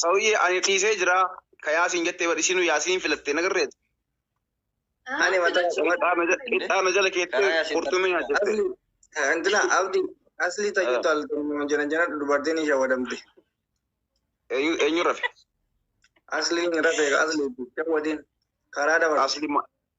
Sawuyyee ani dhiisee jira ka yaasiin jettee bar isiinu yaasiin filattee nagarreetu. Ani mata Qixxaa na jala keettee qurxummii na jette. Antina abdi asli tayu tal turmo jana jana dubartin isha wadamte. Eenyu rafe? Asli ni rafe asli shawadin karaa dabar. Asli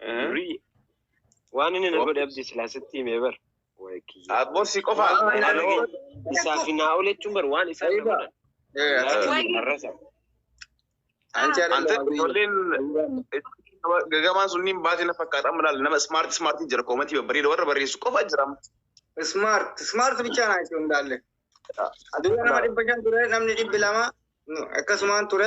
Birrii. Waan inni na godhe abdi silaa sitti himee bar. Abbo si qofa. Isaa fi naa oole jechuun bar waan isaa na godhan. Ante ijoolleen gagamaan sunniin baate na fakkaata amma laal nama smart smart jira koomantii babbareeda warra barreessu qofa jira. Smart smart bichaa naa itti hundaalle. Aduun nama dhibba shan ture namni dhibbi lama akkasumaan ture.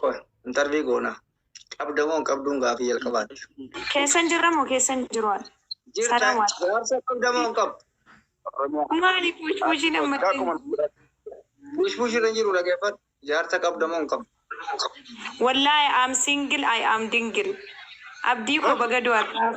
Qoy, intarvii goona. Qabda moo hin qabduun gaafii jalqabaati. Keessan jirra moo keessan hin jiru? Jirta, Salaam alaikum. jaarsa qabda moo hin qabdu? Maali bushbuushiin amma Akkuma bushbuush irra hin jiru dhaggeeffadhu. Jaarsa qabda moo hin qabdu? Wallahi I am single, I am dingle. Abdii koo baga du'aadhaaf.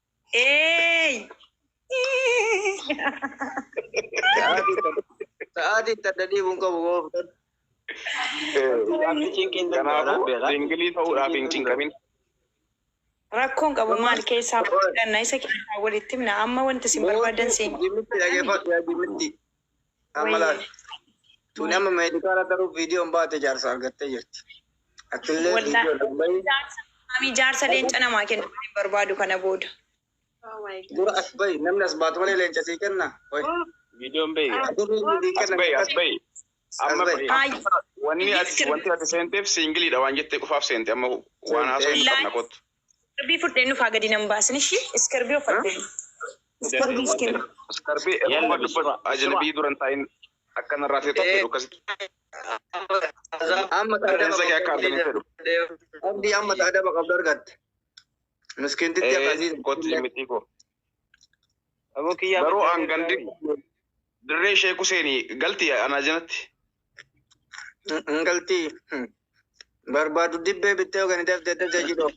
Hey! Sa'aatiin tadda deemuun qabu gooftan. Kanaafuu singilii ta'uudhaaf hin cinqamin. Rakkoon qabu maal keessaa fudhanna isa keessaa walitti himna amma wanti isin barbaadan siin. Jimmitti dhageeffadhu yaa jimmitti. Amma laal. Tuni amma meedikaala garuu viidiyoon baate jaarsa argattee jirti. Atillee Wallahi. viidiyoo dubbayi. Jaarsa maamii jaarsa leenca namaa kennu hin barbaadu kana booda. Dura as bayi. Namni as baatu malee leenca sii kenna. Qoy. Viidiyoon bahi. Atillee sii As kenna. bahi as bahi. Amma As bahi. Ay, wanni ati wanti ati seenteef siingiliidha waan jettee qofaaf seente amma waan haasoo hin qabna kottu. Iskarbii fudhee nufaa gadi nan baasin ishii iskarbii uffatte. Iskarbii iskin. Iskarbii erguma dubbatu ajnabii duran taa'in akka narraa feetu akka jedhu akkasitti. Amma Rifeensa kee akka argan hin fedhu. Abdii amma adaba qabdu argatte. Miskintitti Ee akkasii. kottu jimmitii koo. Aboo kiyyaa Garuu maddaan an gandi ergaa- dirree Sheek Huseeni galti anaa jenatti. Hin galtii. Barbaadu dibbee bittee yookaan itti haftee dajaa jidhoo.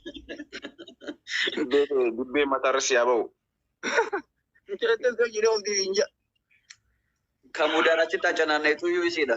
Dibbee mataarra si haa ba'u. Injiratee osoo jidhoo ofii hin jaa. Kan mudaan achitti acanaanneetu iyyuu isiidha.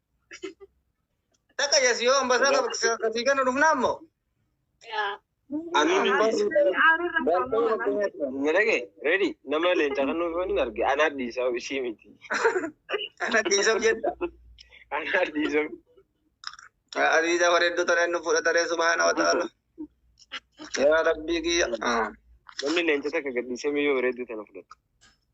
Takka jesi yoo ambasaa qabatii kennu dhufnaa immoo. Nalage ready nama leenca kan nuuf hin arge anaa dhiisaa ishii miti. Ana dhiisaf jedha. Anaa dhiisaa. Aziiza bareedduu tareen nu fudhataree subhaana wa ta'ala. Yaa rabbii kiyya. Namni leenca takka gadhiisee miyyoo bareedduu tana fudhata.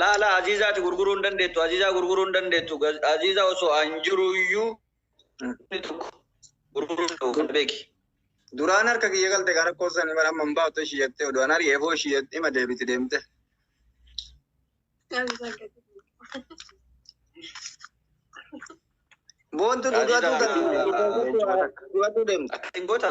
laa laa aziizaati gurguruu hin dandeettu aziizaa gurguruu hin dandeettu Gaz- aziizaa osoo an jiru iyyuu namni tokko gurguruu hin qabu kan beeki duraan harka kiyya galte gara koosan bara amma hin baafte ishii jettee odoo an ari'ee boo ishii jettee ima deebiti deemte boontu duudaatuu Aziizaa- duudaatuu deemte akkasiin goota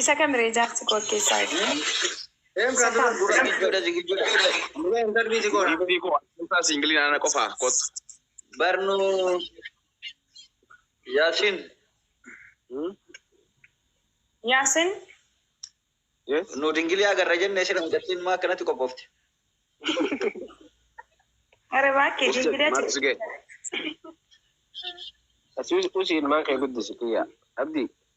Isa kamire jaarsi koo akkeessaa Em kan dura dura zigijoda zigijoda. Dura hin darbii si goona. Bibi ko kutaa singilii ana qofa kot. Barnu Yasin. Yaasin Yes. Nu dingilii agarra jenne sira mucattiin maa akkanatti qophoofte. gara baakkee Usi dingilaa maal si ga'e? Asii usi ilmaan kee guddisi kiyya. Abdi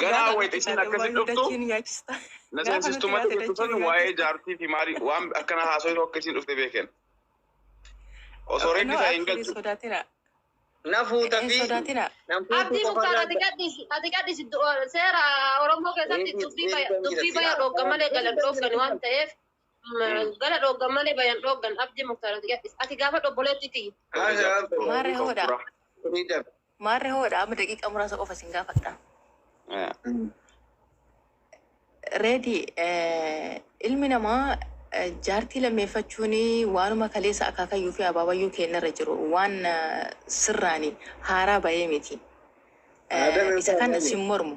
Ganaa wayita isiin akkasi dhuftu na seensistu mata jettu san waa'ee jaartii fi maalii waan akkana haasoftu akka isiin dhufte beeken. Osoo reeddi isaa hin galchu. Na fuuta fi nan fuutu Abdii qofa Muktaar ati laata. gadhiisi ati gadhiisi du- seera Oromoo keessatti Eebii- dubbii eebii baya- kan dubbii jedhatti. baya dhogga malee galan dhoggani waan ta'eef Gara dhooggan malee bayan dhooggan abdi muktaar ati gadhis. Ati gaafadhu obboleetti tiyya. Maarree hoodha. Maarree hoodha amma daqiiqa muraasa qofa isin gaafadha. Reedi ilmi namaa jaartii lammeeffachuun waanuma kaleessa akaakayyuu fi abaabayyuu keenyarra jiru waan sirraani haaraa bahee miti. Isa kan sin mormu.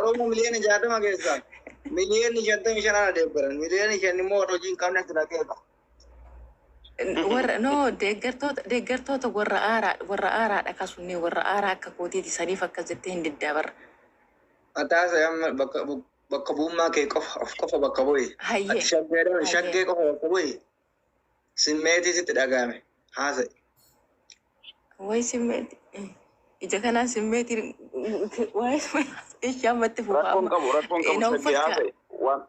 Oromoo miliyoona jaatama keessaa miliyoonni shantamii shan ana deeggaran miliyoonni shan immoo warra hojii hin qabne sila keessa. Warra no deeggartoota deeggartoota warra aaraa warra aaraadha kasunnee warra aaraa akka kootiiti saniif akkas jettee hin diddaa barra. Ataasa amma bakka bu- bakka bu'ummaa kee qofa of qofa bakka bu'i. Hayyee. Ati shaggee dha, shaggee qofa bakka bu'i. Simmeetii sitti dhaga'ame haasa'i. Waa'ee simmeetii. Ija kanaan simmeetiin waa'ee simmeetii ishee ammatti fufa Rakkoon amma. qabu rakkoon Eh, qabu na sadii uffalchaa. haasa'i. Waan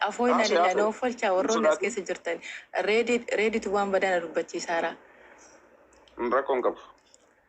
Afoo inaan Haasa'e, ilaa haasa'e. na uffalchaa Hin warroonni as sodaatin. keessa jirtan. Reedii reeditu waan badaa na dubbachiisaara. rakkoon qabu.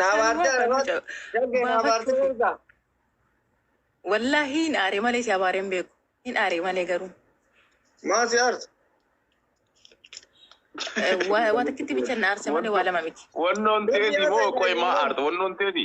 Naabaartee argaatu. Daggee naabaartee argaa. Wallaahi hin aare malee si abaaree hin beeku. Hin aare malee garuu. Maa si aarsa? Waa takkitti bicha na aarse malee waa lama miti. Wannoon teeti moo qoy maa aarta wannoon teeti.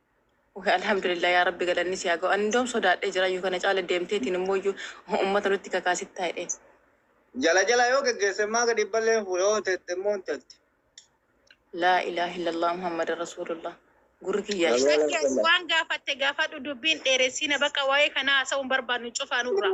Wly Alhamdulillah yaa rabbi galanni si haa gahu ani indoom sodaadhe jira yu kana caala deemteetiin immoyyu ummata nutti kakaasittaa jedheen. Jala jala yoo geggeesse immaa gadi hin ballee hin fuudha yoo hin tette immoo hin tette. Laa ilaah illallah Muhammadan Rasuulullah gurri kiyyaa Sallallahu alaihi Zakkiyas wasallam. waan gaafatte gaafadhu dubbii hin dheeressiina baqa waa'ee kanaa haasa'uu hin barbaannu cufaa nurraa.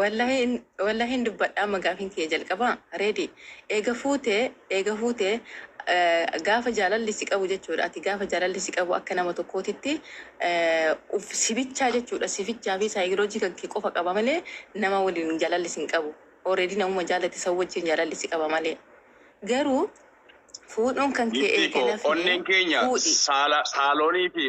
Wallahii hin wallahii hin dubbadha amma gaafin kiyya jalqaba reedi eega fuute eega fuute gaafa jaalalli si qabu jechuudha ati gaafa jaalalli si qabu akka nama tokkootitti uf si bichaa jechuudha si bichaa fi saayikoloojii kan kee qofa qaba malee nama waliin jaalalli sin qabu already namuma jaalate san wajjin jaalalli si qaba malee garuu fuudhuun kan kee Giftii eega koo nafni onneen keenya fuudhi saala saaloonii fi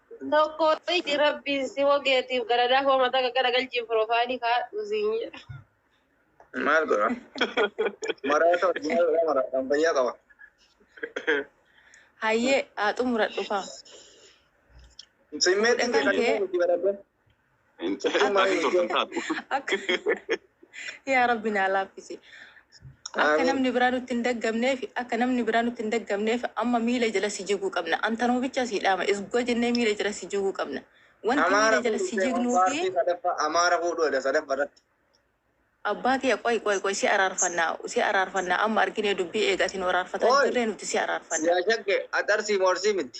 Tokko iji rabbiin si wogeetiif galadaa koo mataa qaqqara galchiin piroofaayilii kaadhu siin jedha. Maal godha? Maraata wajjin yeroo maraatan fayyaa qaba. Hayyee haa xumuradhu kaa. Simmeetiin Fuudha kan kee kan kee. itti baradde. Hin ta'e Akka- maaliin turte hin taatu. Akka yaa rabbi naa laaffisi. Akka Amiin. namni biraa nutti hin daggamneef akka namni biraa nutti hin daggamneef amma miila jala si jiguu qabna. Antanoo bicha si dhaama isgoo jennee miila jala si jiguu qabna. Wanti Amaara miila jala si fuudhu jignuu fi paartii sadaffaa Amaara fuudhu jedha sadaffaa irratti. abbaa kiyya qoy qoy qoy si araarfannaa si araarfannaa amma arginee dubbii eegatiin araarfataa Qoy. jirree nuti si araarfanna. Yaa shakke atarsiimu arsii miti.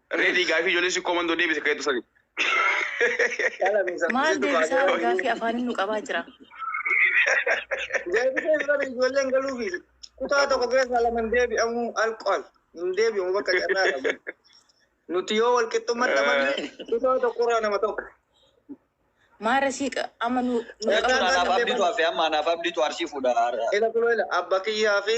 Reedii gaafii ijoollee sikkoo mandoo deebise keetu sani. Maal deebisaa argaa fi afaanin nu qabaa jira. Deebisee fudhate ijoolleen galuufi kutaa tokko keessaa lama hin deebi'amu alkool hin deebi'amu bakka carraa qabu. Nuti yoo wal qixxummaatti amanne kutaa tokkorraa nama tokko. Maara sii qa- amma nu nu Ergaa qabaa Anaaf jira. abdiitu hafe amma anaaf abdiitu arsii fuudha. Ila kuloo ila abba kiyyaa fi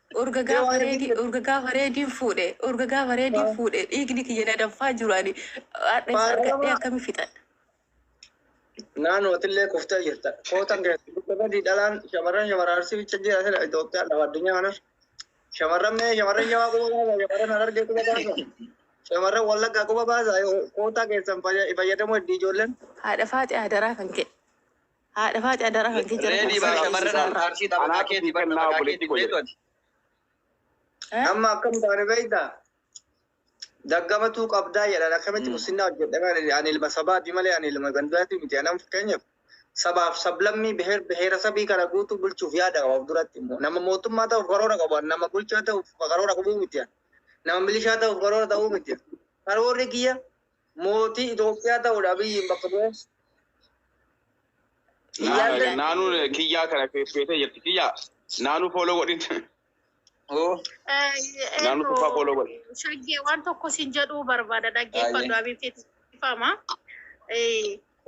Urga gaafa reedii urga gaafa reediin fuudhe urga gaafa reediin fuudhe dhiigni kiyya na danfaa jiru ani hadha isa argadhee akkami fixadha. Naannoo atillee kuftee jirta. Kootan keessatti badii dhalaan shamarran shamarran arsii bicha jira sila Itoophiyaan lafa addunyaa kanas. Shamarran mee shamarran jawaa quba baasa shamarran harargee quba baasa. Shamarran wallaggaa quba baasa kootaa keessan fayyadamuu heddii ijoolleen. Haadha faaxee hadaraa kan kee. Haadha faaxi adara kan kee jara Reedii baa shamarran harka arsii taphataa keeti bar taphataa keeti beetu ati. Amma akkam taane beektaa? Daggamatuu qabdaa jedhan akkamitti muslimaa hojjedhamee ani ilma sabaati malee ani ilma gandaati miti anam fakkeenyaaf sabaaf sablammii biheer biheera sabii kana guutuu bulchuuf yaada qaba of duratti immoo nama mootummaa ta'uuf karoora qabu nama bulchaa ta'uuf karoora qabuu miti nama milishaa ta'uuf karoora ta'uu miti karoorri kiyya Mootii Itoophiyaa ta'uudha Abiyyiin bakka bu'ee. Iyyaallee. Naanuu kiyyaa kana feetee jirti kiyyaa. Naanuu fooloo godhin. Oo. Naannoo tokko fooloo godhe. Shaggee waan tokko siin jedhuu barbaada dhaggeeffadhu Ayyee. abiitti dhifama.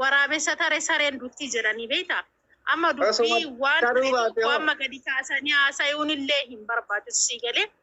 Waraabessa taree sareen dutti jedhanii beekta. Amma Osoo dubbii waan taruu baate hoo? amma gadi kaasanii haasayuun illee hin barbaachisu sii galee.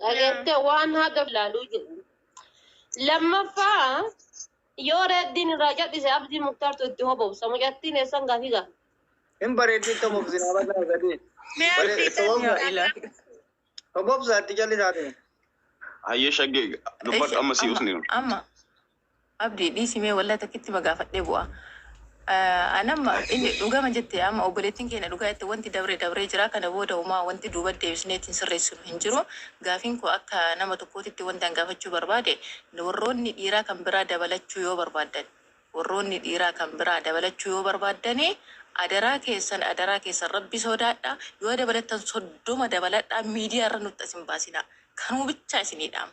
Dhageette waan haga ilaaluu jedhu. Lammaffaa yoo reeddiin irraa cadhise abdii muktaartu itti hobobsa mucattiin eessan gaafii gaaf. Hin bareeddi itti hobobsina abadaa sadii. Hobobsa itti callisaati. Hayyee shaggee dubbadhu amma si usni. Amma. Abdi dhiisi mee wallahi takkitti ma gaafadhee bu'a an amma inni dhugama jette amma obboleettiin keenya dhugaa jette wanti dabre dabree jira kana booda umaa wanti duuba deebisnee ittiin sirreessinu hin jiru gaafiin koo akka nama tokkootitti wanti an gaafachuu barbaade warroonni dhiiraa kan biraa dabalachuu yoo barbaaddan warroonni dhiiraa kan biraa dabalachuu yoo barbaaddani adaraa keessan adaraa keessan rabbi soodaadha yoo dabalattan soddoma dabaladhaa miidiyaa irra nutti as hin baasinaa kanuma bichaa isinii dhaama.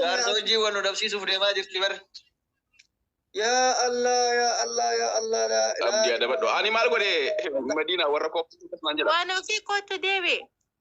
Jaarsa hojii wal nu dhabsiisuuf deemaa jirti bar. Yaa Allah yaa Allah yaa Allah laa Abdii adabadhu. Ani maal godhe Madiina warra kooppisu jedha. Waan ofii kootu deebi.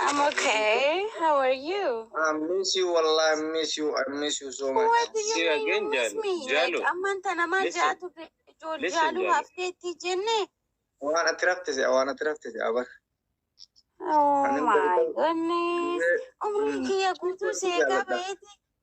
I'm okay. How are you? I miss you, Allah. I miss you. I miss you so much. What do you See you mean again, you miss Jalu. me? Jalu. Like, amman tana maal Listen. jaatu ijool Listen, jaaluu Jalu. hafteetti jenne? Waan ati rafte se'a, waan ati rafte se'a bar. Oh Ani my goodness. Umrii kiyya guutuu seeqaa baheeti.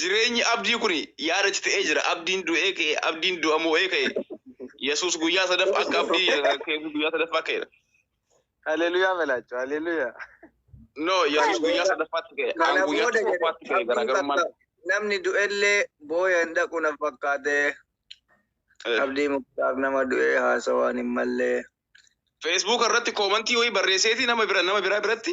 Jireenyi abdii kun yaada cite'ee jira. Abdiin du'ee ka'e, abdiin du'a moo'ee ka'e. Yesuus guyyaa sadaffa akka abdii keessa guyyaa sadaffaa ka'eera. Haleluyaa balaachuu haleluyaa. No, Yesuus guyyaa sadaffaatti ka'e. Kana An guyyaa booda jedhe tokkoffaatti ka'e abdii garaagarummaan. bakka namni du'ellee booya hin dhaqu na fakkaate. Eh, Abdii muktaar nama du'ee haasawaan hin mallee. Facebook irratti koomantii wayii barreesseeti nama bira nama biraa biratti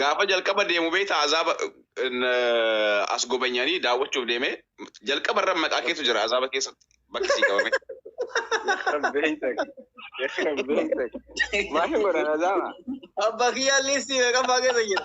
Gaafa jalqaba deemu beektaa azaaba as gobanyanii daawwachuuf deemee jalqaba irra maqaa keetu jira azaaba keessatti bakki sii qabame. Maal godhan azaaba? Abbaa kiyyaan liistii meeqaffaa keessa jira?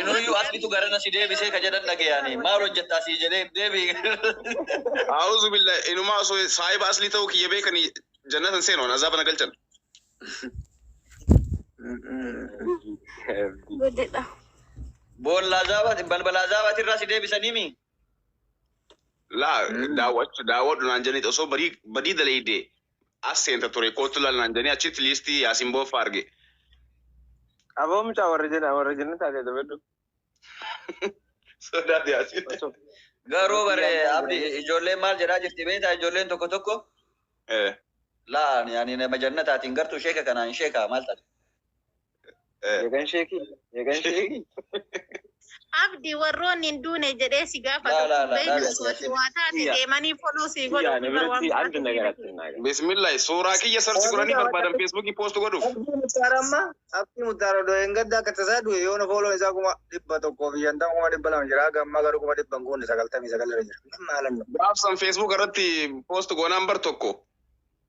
Inuyyuu aslitu garana si deebisee ka jedhan dhageyaani. Maal hojjettaa sii jedhee hin deebi'e. A'uuzu billaah inumaa osoo saahiba aslii ta'uu kiyya beekani jannata hin seenu an azaaba na galchan. Godedha. Boolla azaabaati balbala azaabaati irraa si deebisanii mi? Laa daawwachu daawwadhu naan jedhaniit osoo barii badii daleeyde as seenta ture koottu ilaali naan jedhanii achitti liistii Yaasiin Booffaa arge. Aboo mucaa warra jena warra jenna taatee dabadhu. Sodaate Yaasiin. Osoo Garuu osoo bare kiyyaan taa'u Abdi jedhanii. ijoolleen maal jedhaa jirti beektaa ijoolleen tokko tokko Eh, laa yani nama jannataatiin gartuu sheeka kanaan sheekaa maal taate. Meeqan sheekii? Meeqan sheekii? Abdi warroonni hin duune jedhee si gaafatu Laa, laa, kun laa, beektu laa, osoo ati waa taate Kiyya. deemanii follow sii godhu Kiyyaa, na ofirraa waan biratti biraa adda na godhee garatti na galu. Bismillahi suuraa kiyya sarchi godhanii barbaadan feesbuukii poost godhuuf. Abdii Muktaar amma Abdii Muktaar odoo hin gadda akka tasaa du'e yoona fooloon isaa kuma dhibba tokkoo fi shantama kuma dhibba lama jira haga ammaa garuu kuma dhibba hin guunne sagaltamii sagal irra jira. Min maalan nu. Gaaf san feesbuuk irratti poost goonaan bar tokko.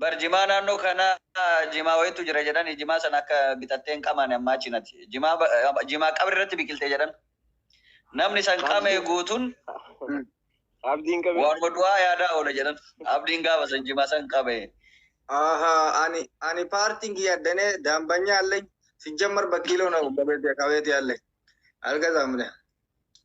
Bar jimaa naannoo kana jimaa wayitu jira jedhan jimaa sana akka bitattee hin qamaane ammaa achi nati. Jimaa ba- jimaa qabri irratti biqilte jedhan. Namni san qame Abdiin guutuun abdiin qabee. waanuma du'aa yaadaa oola jedhan. Abdiin gaafa san jimaa san qabe. Aha, ani ani paartiin kiyya addane daambanya alle sijjammar bakkiiloo na qabeeti qabeeti alle alga zaamne.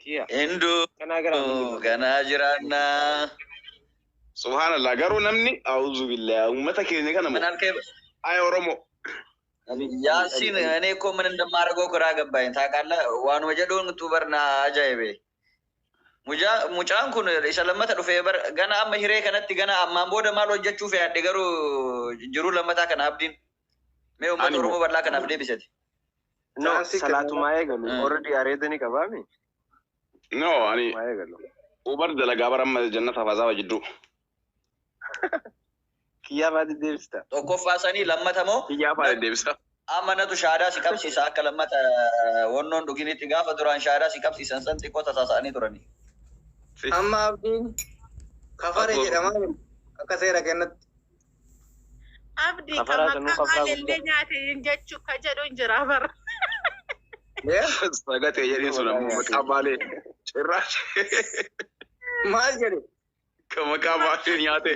Kiya. Hinduu Kanaa gara ammoo. ganaa jiraannaa. Subhanallah garuu namni auzu billah uummata keenya kana Mana moo harkee ay oromo Yaasiin ani koo mana dammaa argoo kiraa gabbaa'in taaqaalla waanuma jedhuun utuu barnaa ajaa'ibe. Mujaa- Mucaan kun isa lammata dhufee bar gana amma hiree kanatti gana ammaan booda maal hojjechuuf yaadde garuu jiruu lammataa kana abdiin. Mee uummata Ani Oromoo moo- bal'aa kanaaf deebisati. No, Chaansii salaatumaa eegalu. Mm. Already areeda ni qabaami. No, ani Salaatumaa eegalu. Uber dalagaa bara amma jannat hafazaaba jidduu. Kiyyaa baati deebista. Tokkoffaa sanii lammata moo Kiyyaa faana deebisa. amma natu shaadaa si qabsiisa akka lammata eh, wannoon dhuginitti gaafa duraan shaadaa si qabsiisan san xiqqoo tasaasa'anii turani. Amma abdiin kafare Abdoo. jedhama akka seera kennatti. Abdi kan Kafaraa sanuu maqaa kafaraa maalillee guddaa. nyaate hin jechu ka jedhu hin jira bara. Sagatee jedhin sun ammoo maqaa maalee cirraas. Maal jedhe? Kan maqaa maalee nyaate.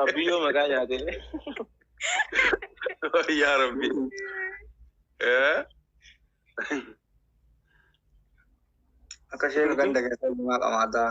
Abdiyyoo maqaa nyaate. Yaa Rabbi. Eh? Akka isheen kan dagatee maal amaataa?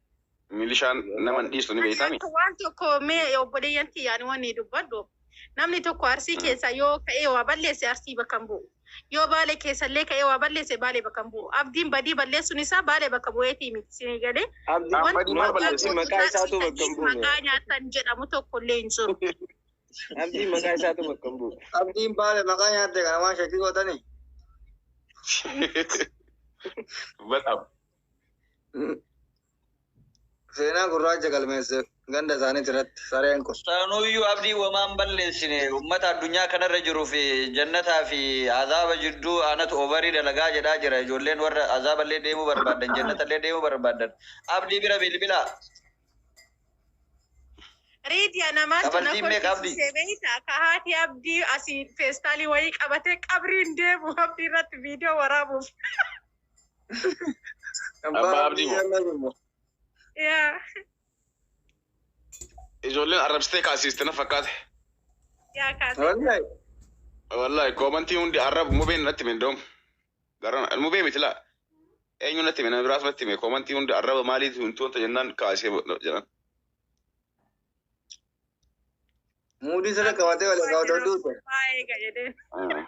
Milishaan nama hin dhiistu ni beektaa miti. Asirratti waan tokko mee obboleeyyan kiyya ani wanni dubbadhu namni tokko Arsii Mm. keessaa yoo ka'ee waa balleesse Arsii bakka hin bu'u. Yoo Baale keessa illee ka'ee waa balleesse Baale bakka hin bu'u. Abdiin badii balleessuun isaa Baale bakka bu'eetii miti isinii galee. Abdi Abdi Wanti maal waggaa balleesse? guutuu Maqaa isaatu taasisan bakka hin buune. maqaa nyaatan jedhamu tokko illee hin jiru. Abdi maqaa isaatu bakka hin buune. Abdiin baale maqaa nyaatte kana waan shakkii gootanii. Badhaaf. Seenaa gurraacha galmeesse ganda isaaniiti irratti sareen kun. Saanuyyuu abdii wamaan balleessine ummata addunyaa kanarra jiru fi jannataa fi azaaba jidduu aanatu ovarii dalagaa jedhaa jira ijoolleen warra azaaballee deemuu barbaadan jannatallee deemuu barbaadan abdii bira bilbilaa. Riidiya namaan tuna Kabaltii meeqa kolfi abdii? siisee beeyta ka haati abdii asii feestaalii wayii qabatee qabriin deemu abdii irratti viidiyoo waraabuuf. Abbaa Abdii moo? Yaa. Ijoolleen arrabsitee kaasiiste na fakkaate. Yaa kaase. Wallahi. Wallahi koomantii hundi arrab mubeen natti hime doom. Garan mubee miti laa. Eenyu natti hime nama biraas natti hime koomantii hundi arraba maaliif hin tuunta jennaan kaasee jedhan. Muudii sirra qabatee wal egaa odoo duute. Baay'ee gajedeen. Ah.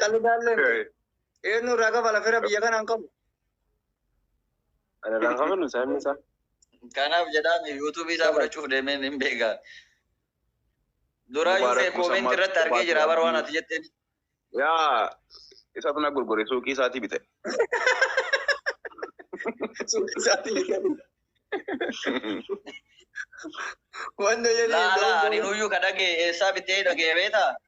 Qalidaallee eenyu irraa kafa lafera biyya kanaan qabu. Ana lafa minu sabni isaa. Kanaaf jedhaan yuutuubii isaa fudhachuuf deemee hin beekaa. Duraa Mubarak yuusee Musa koomeenti irratti Marko argee jira bara waan ati jetteen. Yaa isa tana gurgure suuqii isaatii bite. Wanna jedhee Laala ani nuyyuu ka dhagee eessaa bitee dhagee beetaa?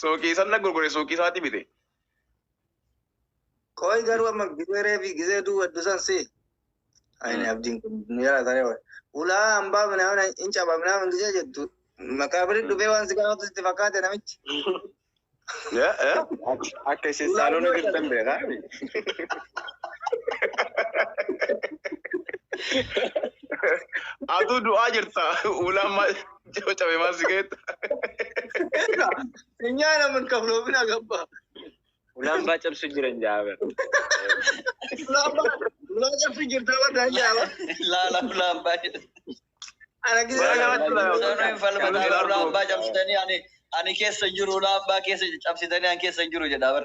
Suuqii san na gurgure suuqii isaati bite. Qoy garuu amma gizee reefi gizee duwwaddu san si. Ayini Mm. abdiin kun nu jalaa taree wal. Ulaa hambaa minaamin hin caba minaamin gizee jettu. Maqaabiri Mm. dhufee waan si gaafatu sitti fakkaate namichi. Ya, ya. Akka isin Ulaa saaloona duwwadda. jirtan beekaa. Atuu du'aa jirta. Ulaa ma- Jiru cabe maal si keetta? Nyaa naman kabloomina gabba. Ulaambaa cabsu jiran jaaber. Ulaa cabsu jirta warra jaaba. Laala ulaambaa jedhe. Ana Baay'ee gisa. namatti tola. Sanuu hin falmataa ulaambaa cabsitanii ani ani keessa jiru ulaambaa keessa cabsitanii ani keessa jiru jedha bar.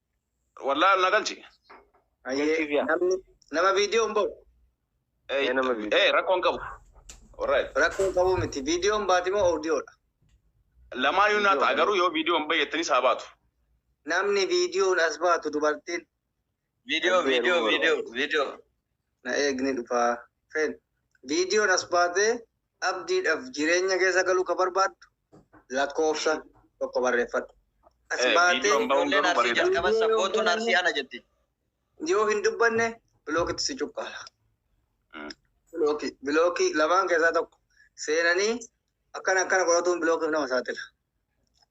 Wallahi ol na galchi. Ayyee, Galchiif yaa. namni nama viidiyoo hin ba'u Eh, Ee, nama video. eh, rakkoo hin qabu. Alright. rakkoo hin qabu miti viidiyoo hin baati moo oodiyoodha Lamaayyuu naa ta'a garuu yoo viidiyoon bayyattanii saa baatu. namni viidiyoon as baatu dubartiin Video, Abbee video, Rumor. video, video. na eegni dhufaa fen viidiyoon as baatee abdiidhaf jireenya keessa galuu ka barbaaddu lakkoofsa tokko barreeffadhu. As Eh, baatee viidiyoon ba'uun ijoolleen garuu arsii bareeda. jalqaban sabboontuun arsii ana jetti. yoo hin dubbanne bilookitti si cuqqaala. Mm. Bilookii bilookii lamaan keessaa tokko seenanii akkana akkana godhatuun bilookiif nama saaxila.